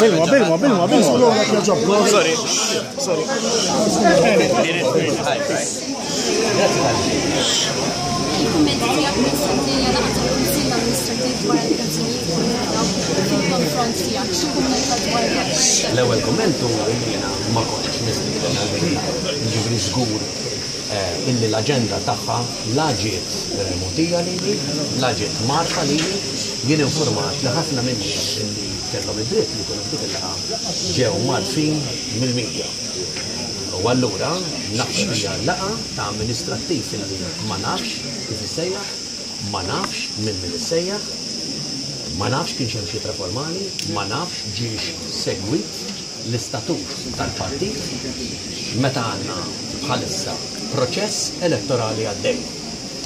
Bilwa, bilwa, bilwa, bilwa. Sorry, sorry. L-ewwel kumment hu jiena ma kontx nispjega ġifri żgur eh, illi l-aġenda tagħha La ġiet mogħtija lili, la ġiet mgħarrfa lili. Jien infurmat li ħafna min-nies li kellhom id-dritt li jkunu f'dik il-laqgħa ġew mgħarrfin mill-media. U allura naħseb hija laqgħa ta' amministrattiv li ma nafx kif issejjaħ, ma nafx minn min issejjaħ, ma nafx kienx hemm xi ittra formali, ma nafx ġiex segwit. l-istatut tal-partit meta għandna bħalissa proċess elettorali għaddej.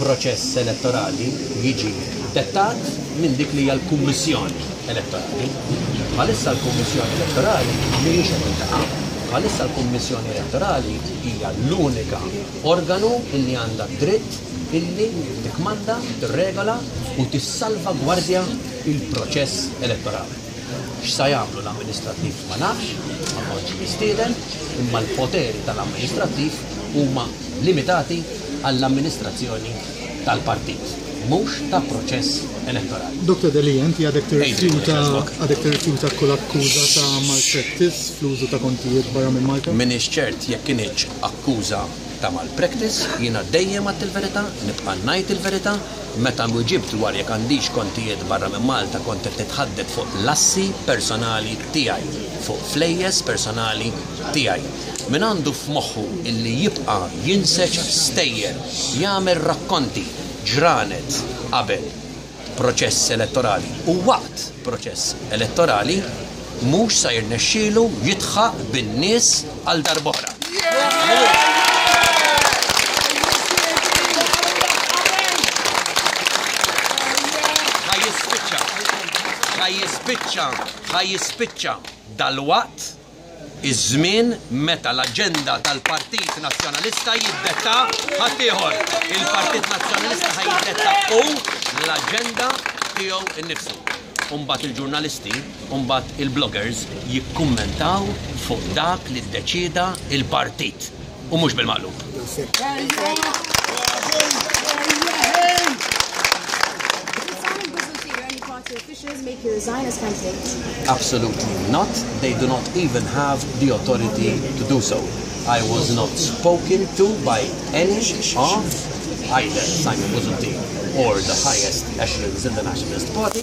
Proċess elettorali jiġi dettat minn dik li hija l-Kummissjoni Elettorali. Bħalissa l-Kummissjoni Elettorali mhijiex qed tiltaqa'. Bħalissa l-Kummissjoni Elettorali hija l-unika organu li għandha d-dritt illi tikkmanda, tirregola u tissalvagwardja l-proċess elettorali. X'sa jagħmlu l-amministrattiv ma nafx, ma kontx mistieden, imma l-poteri tal-amministrattiv huma limitati għall-amministrazzjoni tal-partit, mhux ta' proċess elettorali. Doctor Delia, inti għadek tirrifjuta għadek tirrifjuta kull akkuża ta' malpractice fl-użu ta' kontijiet barra minn Malta? M'iniex ċert jekk kinitx akkuża ta' malpractice. Jiena dejjem għedt il-verità, nibqa' ngħid il-verità. Meta nwiġibt dwar jekk għandix kontijiet barra minn Malta kont qed nitħadded fuq l-assi personali tiegħi, fuq flejjes personali tiegħi. Min għandu f'moħħu illi jibqa' jinseġ stejjer, jagħmel rakkonti, ġranet qabel proċess elettorali u waqt proċess elettorali, mhux sa jirnexxielu jidħaq bin-nies għal darb'oħra. Ħa jispiċċa, ħa jispiċċa, ħa jispiċċa dalwaqt iż-żmien meta l-aġenda tal-Partit Nazzjonalista jiddetta ħaddieħor. Il-Partit Nazzjonalista ħa jiddetta hu l-aġenda tiegħu nnifsu. U mbagħad il-ġurnalisti u mbagħad il-bloggers jikkummentaw fuq dak li ddeċieda l-partit u mhux bil-maqlub. Absolutely not. They do not even have the authority to do so. I was not spoken to by any of either Simon Buzuti or the highest echelons in the Nationalist Party.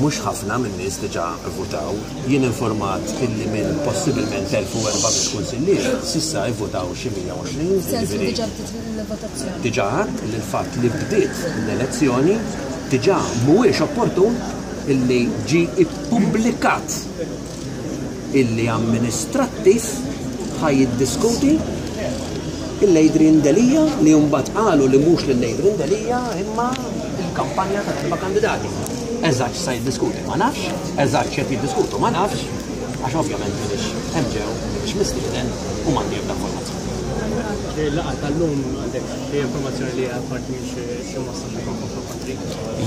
Mhux ħafna min-nies diġà vvutaw. Jien informat illi minn possibilment 1,400 kunsillier, s'issa ivvutaw xi 120, jiġifieri. Diġà għedt li l-fatt li bdiet l-elezzjoni diġà mhuwiex opportun illi ġie pubblikat illi amministrattiv ħa jiddiskuti il Adrian Delia li mbagħad qalu li mhux lil Adrian Delia imma il-kampanja ta' erba' kandidati. Eżatt sa jiddiskuti ma nafx, eżatt x'qed jiddiskutu ma nafx, għax ovvjament minix hemm ġew, minix mistieden u m'għandi ebda informazzjoni. Laqa tal-lum għandek xi informazzjoni li għal parti minn xi mossa xi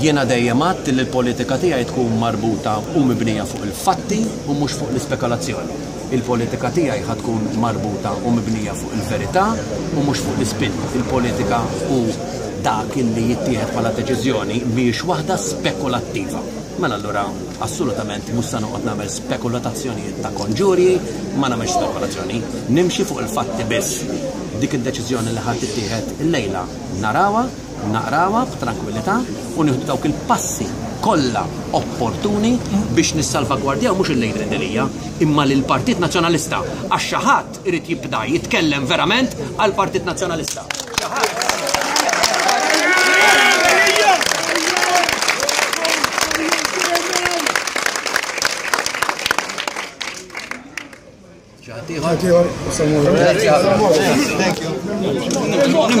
Jiena dejjem għidt li l-politika tiegħi tkun marbuta u mibnija fuq il-fatti u mhux fuq l-ispekalazzjoni. Il-politika tiegħi ħa tkun marbuta u mibnija fuq il-verità u mhux fuq l-ispin. Il-politika u dak li jittieħed bħala deċiżjoni mhijiex waħda spekulattiva. Mela allura assolutament mhux se noqgħod nagħmel spekulatazzjonijiet ta' konġurji, ma nagħmilx spekulazzjoni. Nimxi fuq il-fatti biss. Dik id-deċiżjoni li ħa tittieħed illejla narawha. naqrawha f'trankwillità u nieħdu dawk il-passi kollha opportuni biex nissalvagwardjaw mhux il-Lady Rendelija, imma lil Partit Nazzjonalista, għax xi ħadd irid jibda jitkellem verament għal Partit Nazzjonalista. Thank you.